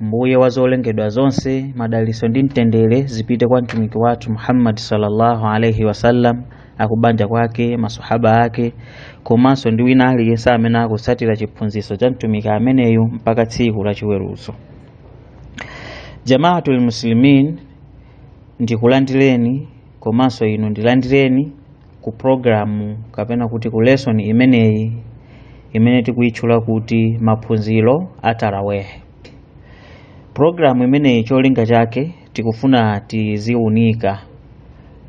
mbuye wa zolengedwa zonse madaliso ndi mtendere zipite kwa mtumiki wathu muhammadi sallallahu alaihi wasallam akubanja kwake masahaba ake komanso ndi wina aliyense amene akutsatira chiphunzitso cha mtumiki ameneyu mpaka tsiku la chiweruzo jamaatul muslimin ndikulandireni komanso inu ndilandireni ku programu kapena kuti ku lesson imeneyi imene tikuyitchula kuti maphunziro a taraweh programu imeneyi cholinga chake tikufuna tiziunika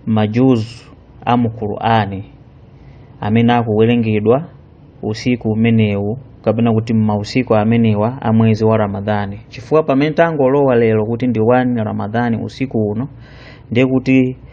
majuzu a mu qur'ani amene akuwerengedwa usiku umenewu kapena kuti mmausiku amenewa a mwezi wa ramadhani chifukwa pamene tangolowa lero kuti ndi 1 ramadhani usiku uno ndiye kuti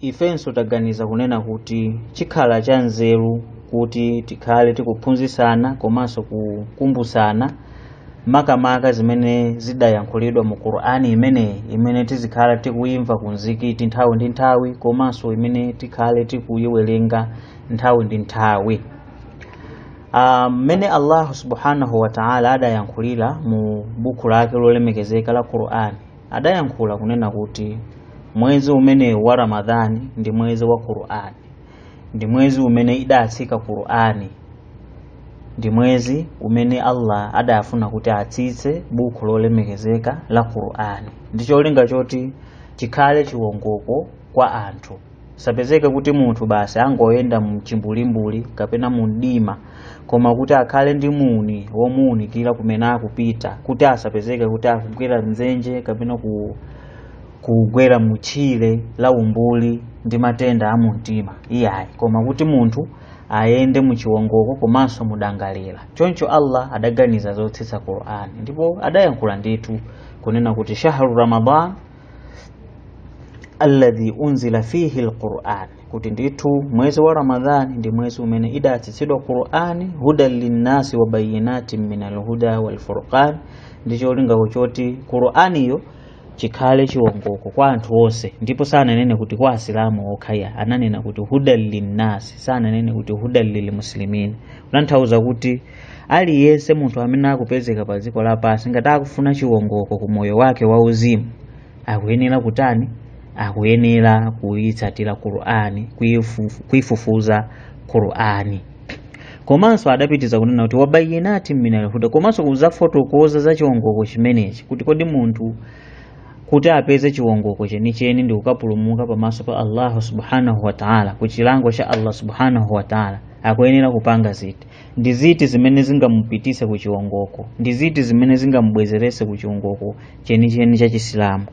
ifenso taganiza kunena kuti chikhala cha nzeru kuti tikhale tikuphunzisana komanso kukumbusana makamaka zimene zidayankhulidwa mu qur'ani imeneyi imene tizikhala tikuyimva ku mzikiti nthawi ndi nthawi komanso imene tikhale tikuyiwerenga nthawi ndi nthawi mmene allahu subhanahu wataala adayankhulira mu buku lake lolemekezeka la qur'ani adayankhula kunena kuti mwezi umenewu wa ramadhani ndi mwezi wa qur'ani ndi mwezi umene idatsika qur'ani ndi mwezi umene allah adafuna kuti atsitse buku lolemekezeka la qur'ani ndi cholinga choti chikhale chiwongoko kwa anthu asapezeke kuti munthu basi angoyenda mchimbulimbuli kapena mu mdima koma kuti akhale ndi muni womuunikira kumene akupita kuti asapezeke kuti akugwera mdzenje kapena kugwera mutchire la umbuli ndi matenda a mumtima iyayi koma kuti munthu ayende muchiwongoko komanso mudangalira choncho allah adaganiza zotsitsa qur'ani ndipo adayankhula ndithu kunena kuti shahru ramadan alladhi unzila fihi alquran kuti ndithu mwezi wa ramadhani ndi mwezi umene idatsitsidwa qurani hudan linnasi wa bayinatin min alhuda walfurqan ndi cholinga choti quraniyo chikhale chiwongoko kwa anthu onse ndipo sananene kuti kwa asilamu okhaya ananena kuti hudan linnasi sananene kuti hudan lilmuslimin kutanthauza kuti aliyense munthu amene akupezeka pa dziko lapansi ngati akufuna chiwongoko ku moyo wake wauzimu akuyenera kutani akuyenera kuyitsatira qur'ani kuyifufuza qur'ani komanso adapitiza kunena kuti wabayinati minalhuda komanso kuzafotokoza za chiwongoko chimenechi kuti kodi munthu kuti apeze chiwongoko chenicheni ndi kukapulumuka pamaso pa allahu subhanahu wataala ku chilango cha allah subhanahu wataala akuyenera kupanga ziti ndi ziti zimene zingamupitise ku chiwongoko ndi ziti zimene zingamubwezerese ku chiwongoko chenicheni cha chisilamu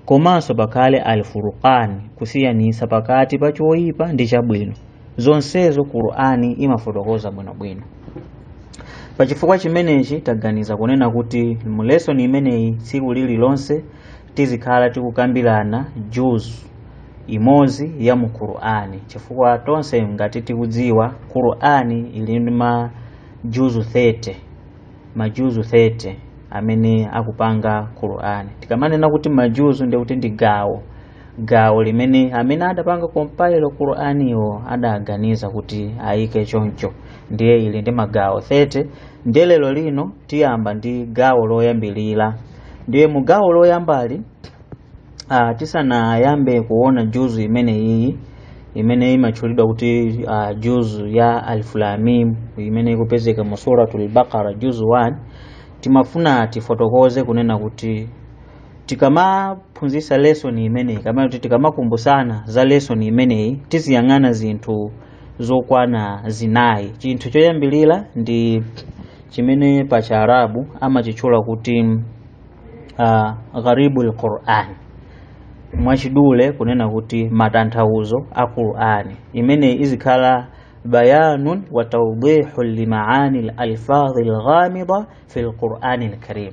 komanso pakhale al furqan kusiyanisa pakati pa choyipa ndi chabwino zonsezo qur'ani imafotokoza bwinobwino pa chifukwa chimenechi taganiza kunena kuti mu lesson imeneyi tsiku lililonse tizikhala tikukambirana juzu imodzi ya mu Qur'ani chifukwa tonse ngati tikudziwa Qur'ani ili ndi majuzu 30 majuzu 30 amene akupanga Qur'ani tikamanena kuti majuzu ndi kuti ndi gawo gawo limene amene adapanga compile Qur'aniyo adaganiza kuti ayike choncho ndiye ili ndi magawo 30 ndiye lero lino tiyamba ndi gawo loyambirira ndiye mu gawo loyambali Ah, tisanayambe kuona juzu imeneyi imene imatchulidwa kuti ah, juzu ya alif lam mim imene ikupezeka mu suratul baqara juzu 1 timafuna tifotokoze kunena kuti tikamaphunzisa lesoni imeneyi kapena kuti tikamakumbusana za lesoni imeneyi tiziyang'ana zinthu zokwana zinayi chinthu choyambirira ndi chimene pa chiarabu amachitchula kuti uh, gharibul Qur'an mwachidule kunena kuti matanthauzo a Qur'ani imene izikhala bayanun wa tawdihu limaani lalfadhi lghamida fi lqurani lkarim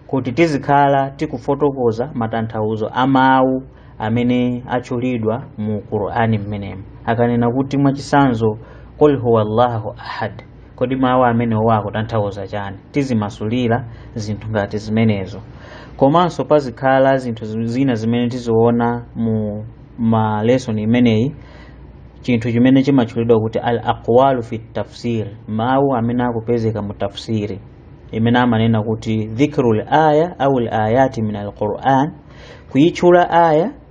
kuti tizikhala tikufotokoza matanthauzo a mawu amene atchulidwa mu qur'ani mmenemu akanena kuti mwachisanzo qul huwa llahu ahad kodi mawu amenewo akutanthauza chani tizimasulira zinthu ngati zimenezo komanso pazikhala zinthu zi- zina zimene tiziona mu lesson imeneyi chinthu chimene chimatchulidwa kuti al aqwalu fi tafsir mawu amene akupezeka mu tafsiri imene amanena kuti dhikru l aya au l ayati min alquran kuyitchula aya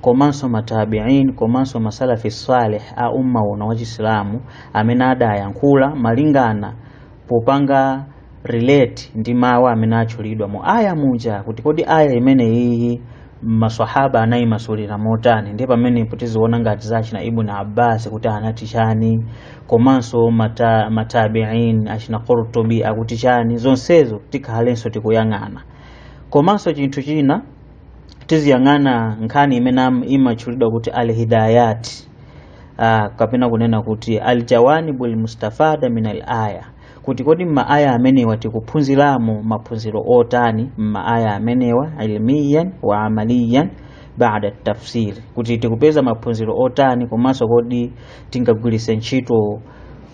komanso matabiin komanso masalafi salih a umma uno wachisilamu amene adayankhula malingana popanga relate ndi mawu amene atchulidwa mu aya muja kuti kodi aya imeneyiyi maswahaba anayimasulira motani ndiye pamenepo tiziona ngati za achina ibn abbas kuti anati chani komanso mata, matabiin achina qurtubi akuti chani zonsezo tikhalenso tikuyang'ana komanso chinthu china tiziyang'ana nkhani imene am- imatchulidwa kuti al hidayat ah, kapena kunena kuti al jawanibu al mustafada min al aya kuti kodi m'maaya amenewa tikuphunziramo maphunziro otani m'maaya amenewa ilmiyan wa amaliyan baada attafsiri kuti tikupeza maphunziro otani komanso kodi tingagwiritse ntchito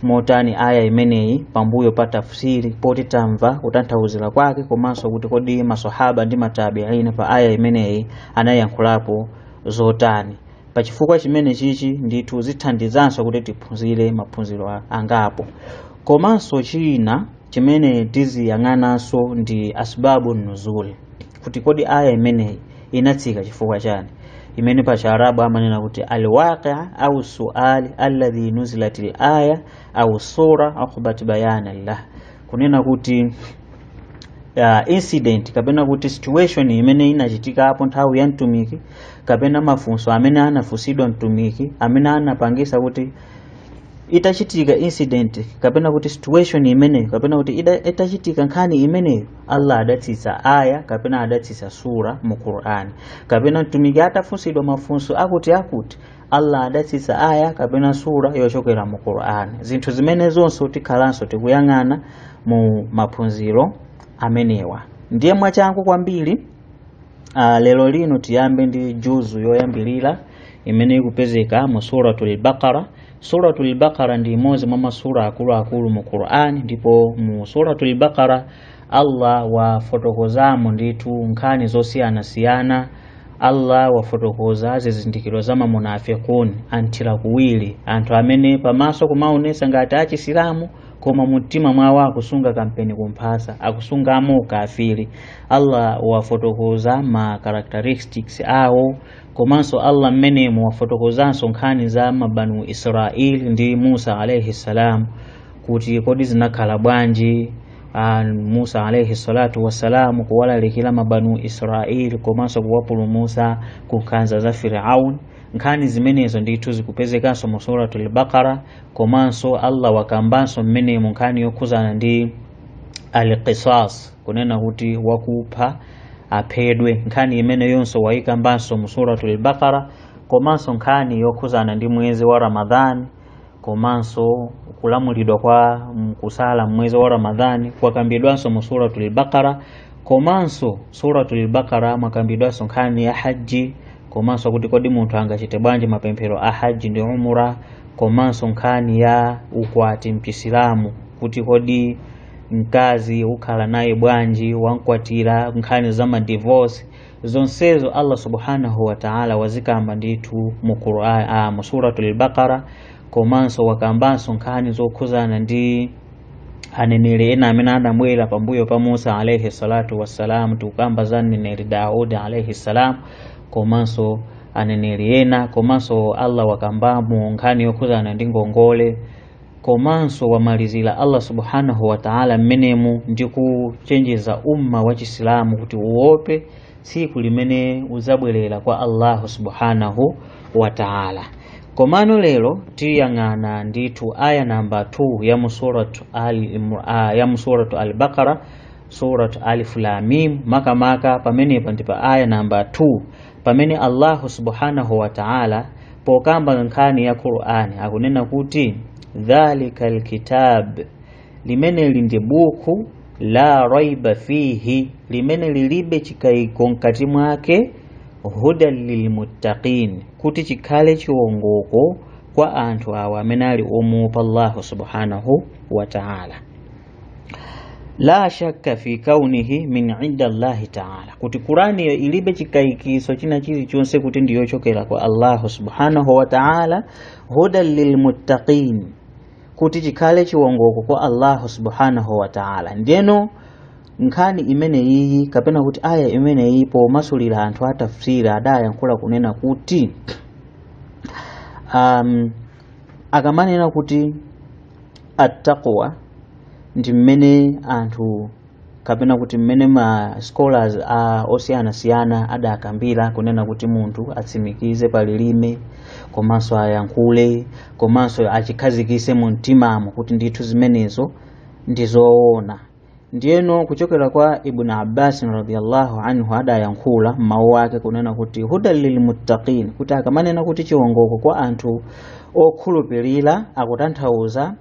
motani aya imeneyi pambuyo pa tafsiri poti tamva kutanthauzira kwake komanso kuti kodi masahaba ndi matabiini pa aya imeneyi anayankhulapo zotani pa chifukwa chimene chichi ndithu zithandizanso kuti tiphunzire maphunziro a- angapo komanso china chimene tiziyang'ananso ndi asbabu nuzul kuti kodi aya imeneyi inatsika chifukwa chani imene pa chiarabu amanena kuti alwaqia au suali alladhi nazalat alaya au sura aqibahu bayana lah kunena kuti uh, incident kapena kuti situation imene inachitika apo nthawi ya mtumiki kapena mafunso amene anafunsidwa mtumiki amene anapangisa kuti itachitika incident kapena kuti situation imeneyo kapena kuti ida- itachitika nkhani imeneyo allah adatsitsa aya kapena adatsitsa sura mu qur'ani kapena mtumiki atafunsidwa mafunso akuti akuti allah adatsitsa aya kapena sura yochokera mu qur'ani zinthu zimene zonse tikhalanso tikuyang'ana mu maphunziro amenewa ndiye mwachangu kwambiri uh, lero lino tiyambe ndi juzu yoyambirira imene ikupezeka mu suratul baqara Suratul Baqara ndi imodzi mwa masura akuluakulu mu Qur'an ndipo mu Suratul Baqara Allah wafotokozamo ndithu nkhani zosiyanasiyana Allah wafotokoza zizindikiro za mamunafikun anthira kuwiri anthu amene pamaso kumaonesa ngati achisilamu koma mumtima mwawo akusunga kampeni kumphasa akusungamo ukafiri Allah wafotokoza ma characteristics awo komanso Allah mmenemo wafotokozanso nkhani za mabanu Israeli ndi Musa alaihi salam kuti kodi zinakhala bwanji ah, Musa alaihi salatu wassalamu kuwalalikira mabanu Israeli komanso kuwapulumusa ku nkhanza za Firaun nkhani zimenezo ndithu zikupezekanso mu suratul Baqara komanso Allah wakambanso mmenemo nkhani yokhuzana ndi al-qisas kunena kuti wakupha aphedwe nkhani imeneyonso wayikambanso mu suratul bakara komanso nkhani yokhuzana ndi mwezi wa ramadhani komanso kulamulidwa kwa kusala mmwezi wa ramadhani kwakambidwanso mu suratul bakara komanso suratul bakara mwakambidwanso nkhani ya haji komanso kuti kodi munthu angachite bwanji mapemphero a haji ndi umura komanso nkhani ya ukwati mchisilamu kuti kodi mkazi ukhala naye bwanji wamkwatira nkhani za madivorce zonsezo allah subhanahu wataala wazikamba ndithu mu Qur'an ah, mu suratul baqara komanso wakambanso nkhani zokhuzana ndi aneneri ena amene adabwera pambuyo pa musa alaihi salatu wassalamu tikukamba za aneneri daudi alaihi salam komanso aneneri ena komanso allah wakambamo nkhani yokhuzana ndi ngongole komanso wamalizira Allah subhanahu wa ta'ala mmenemu ndi kuchenjeza umma wa Chisilamu kuti uope tsiku limene udzabwerera kwa Allahu subhanahu wa ta'ala. Komano lero tiyang'ana ndithu aya namba 2 ya mu suratu al-Baqara suratu Alif Lam Mim, makamaka pamenepa ndi pa aya namba 2 pamene allahu subhanahu wa ta'ala pokamba nkhani ya qur'ani akunena kuti dhalika lkitab limeneli ndi buku la raiba fihi limene lilibe chikayiko mkati mwake hudan lilmuttaqin kuti chikhale chiwongoko kwa anthu awa amene ali omuopa allahu subhanahu wa ta'ala la shakka fi kaunihi min inda llahi taala kuti qur'ani iyo ilibe chikayikiso china chilichonse kuti ndiyochokera kwa allahu subhanahu wa taala hudan lilmuttaqin kuti chikhale chiwongoko kwa allahu subhanahu wa taala ndiyeno nkhani imeneyiyi kapena kuti aya imeneyi pomasulira anthu a tafsiri adayankhula kunena kuti um, akamanena kuti attaqwa ndi mmene anthu kapena kuti mmene ma scholars osiyanasiyana adakambira kunena kuti munthu atsimikize pa lilime komanso ayankhule komanso achikhazikise mu mtimamo kuti ndithu zimenezo ndi zoona ndiyeno kuchokera kwa ibn abbas radiyallahu anhu adayankhula mmawu ake kunena kuti hudan lilmuttaqin kuti akamanena kuti chiwongoko kwa anthu okhulupirira akutanthauza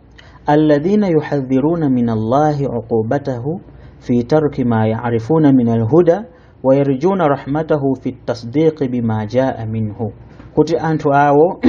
alladhina yahdharuna min allahi uqubatahu fi tarki ma yarifuna min alhuda wa yarjuna rahmatahu fi tasdiqi bima jaa minhu kuti anthu awo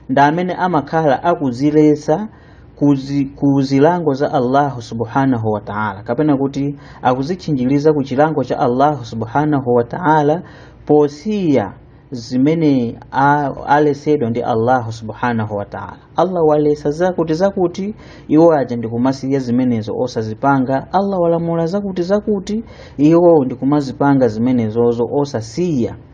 ndi amene amakhala akuziletsa kuzi, ku zilango za allahu subhanahu wa taala kapena kuti akuzitchinjiriza ku chilango cha allahu subhanahu wa taala posiya zimene a- alesedwa ndi allahu subhanahu wa taala allah walesa zakuti zakuti iwo aja ndikumasiya zimenezo osazipanga allah walamula zakuti zakuti iwo ndikumazipanga zimenezozo osasiya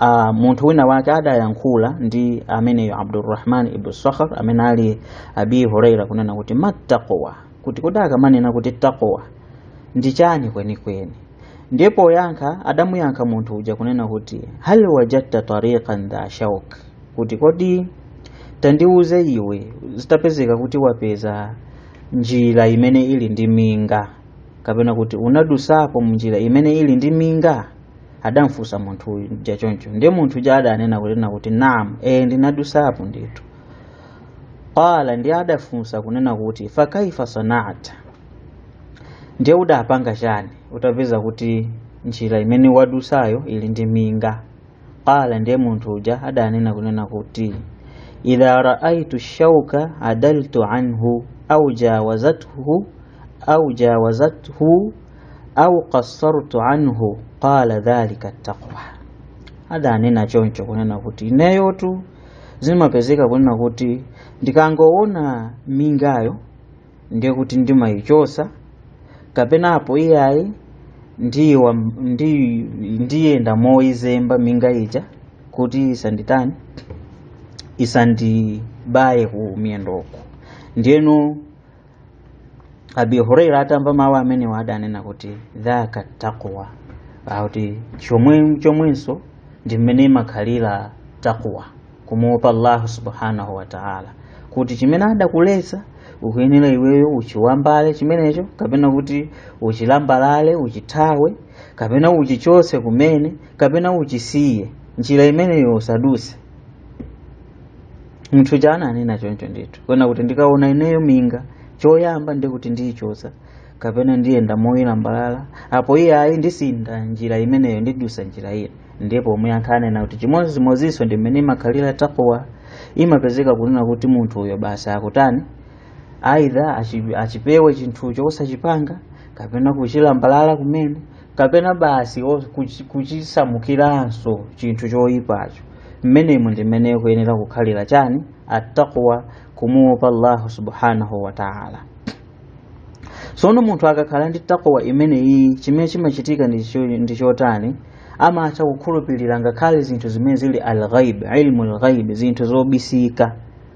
Uh, munthu wina wake adayankhula ndi ameneyo abdurrahman ibnu sakhar amene ali abi huraira kunena kuti mattaqwa kuti kodi akamanena kuti taqwa ndi chani kwenikweni ndi poyankha adamuyankha munthu uja kunena kuti hal wajadta tariqan dha shauk kuti kodi tandiuze iwe zitapezeka kuti wapeza njira imene ili ndi minga kapena kuti unadusapo mnjira imene ili ndi minga adamfunsa munthu uja choncho ndiye munthu uja adanena kunena kuti naam e ndinadusapo ndithu qala ndiye adafunsa kunena kuti fa kaifa sanata ndiye udapanga chani utapeza kuti njira imene wadusayo ili ndi minga qala ndiye munthu uja adanena kunena kuti idha raaitu shauka adaltu anhu au jawazathu au jawazathu au qassartu anhu qala dhalika taqwa adanena choncho kunena kuti ineyotu zimapezeka kunena kuti ndikangoona mingayo ndiye kuti ndimayichosa kapena apo iyayi ndiwa ndi ndiyenda moyizemba minga ija kuti isanditani isandibaye ku miyendoko ndiyeno abi huraira atamva mawu amenewa adanena kuti dhaka taqwa akuti chomwe chomwenso ndi mmene imakhalira taqwa kumuopa allahu subhanahu wa taala kuti chimene adakuletsa ukuyenera iweyo uchiwambale chimenecho kapena kuti uchilambalale uchithawe kapena uchichotse kumene kapena uchisiye njira imeneyo usaduse munthu uja ananena choncho ndithu kunena kuti ndikaona ineyo minga choyamba ndiye kuti ndiyichotsa kapena ndiyenda moyilambalala apo iyayi ndisintha njira imeneyo ndidusa njira ina ndiye pomwe anthu anena kuti chimodzimodzinso ndi mmene imakhalira taqwa imapezeka kunena kuti munthu uyo basi akutani aidha achi- achipewe chinthucho osachipanga kapena kuchilambalala kumene kapena basi o- kuchi- kuchisamukiranso chinthu choyipacho mmenemu ndi mmene ikuyenera kukhalira chani attaqwa kumuopa allahu subhanahu wa taala sono munthu akakhala ndi taqwa imeneyi chimene chimachitika ndi cho- ndi chotani amatha kukhulupirira ngakhale zinthu zimene zili alghaib ilmu lghaib zinthu zobisika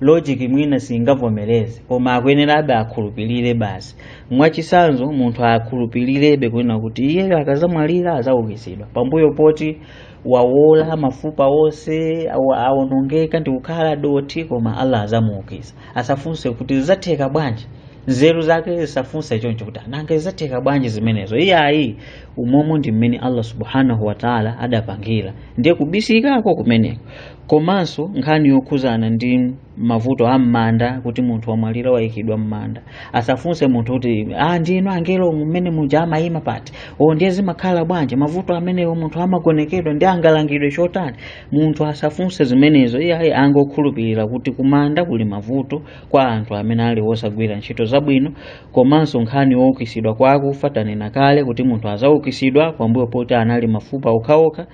logic mwina singavomereze koma akuyenerabe akhulupirire basi mwachisanzo munthu akhulupirirebe kunena kuti iyeyo akazamwalira azaukitsidwa pambuyo poti wawola mafupa onse awa- awonongeka ndi kukhala dothi koma allah azamuukitsa asafunse kuti zizatheka bwanji nzeru zake zisafunse choncho kuti a nanga zizatheka bwanji zimenezo iyayi umomo ndi mmene allah subhanahu wataala adapangira ndiye kubisikako kumeneko komanso nkhani yokhuzana ndi mavuto a m'manda kuti munthu wamwalira wayikidwa m'manda asafunse munthu kuti ah, ndinu angelo mmene muja amayima pati o ndiye zimakhala bwanji mavuto amenewo munthu amagonekedwa ndi angalangidwe chotani munthu asafunse zimenezo iye ayi angokhulupirira kuti kumanda kuli mavuto kwa anthu amene ali osagwira ntchito zabwino komanso nkhani youkitsidwa kwa akufa tanena kale kuti munthu azaukisidwa pambuyo poti anali mafupa okhaokha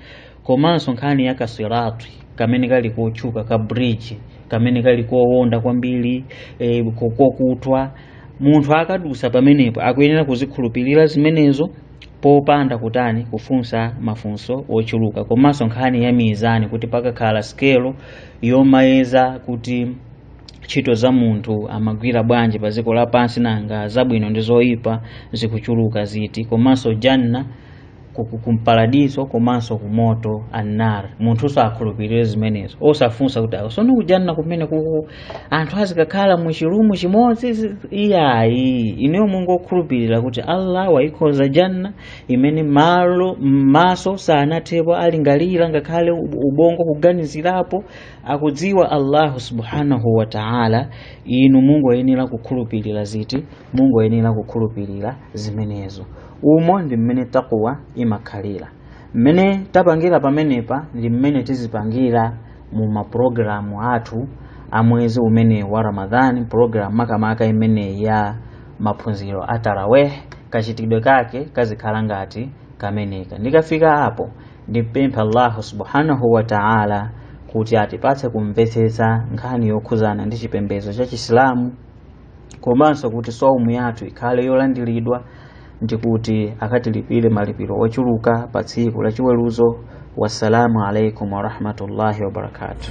komanso nkhani ya kasiratu kamene kali kotchuka ka bridge kamene kali kowonda kwambiri e, kokutwa munthu akadusa pamenepo akuyenera kuzikhulupirira zimenezo popanda kutani kufunsa mafunso ochuluka komanso nkhani ya mizani kuti pakakhala sikelo yomayeza kuti ntchito za munthu amagwira bwanji pa dziko lapansi nanga zabwino ndi zoyipa zikuchuluka ziti komanso janna kumparadiso komanso kumoto annar munthu usakhulupirire zimenezo osafunsa kuti awo sono kujanna kumene kuku anthu azikakhala mu chilumu chimodzi zi- iyayi inuyo mungokhulupirira kuti allah waikhoza janna imene malo m'maso sanathepo alingalira ngakhale ub- ubongo kuganizirapo akudziwa allahu subhanahu wa taala inu mungoyenera kukhulupirira ziti mungoyenera kukhulupirira zimenezo umo ndi mmene taqwa imakhalira mmene tapangira pamenepa ndi mmene tizipangira mu maprogramu athu a mwezi umene wa ramadhani pulogalamu makamaka imene ya maphunziro a tarawih kachitidwe kake kazikhala ngati kameneka ndikafika apo ndipempha allahu subhanahu wa taala kuti atipatse kumvetsetsa nkhani yokhuzana ndi chipembedzo cha chisilamu komanso kuti saumu yathu ikhale yolandiridwa ndi kuti akatilipire malipiro ochuluka pa tsiku la chiweruzo wassalamu alaikum warahmatullahi wabarakatuh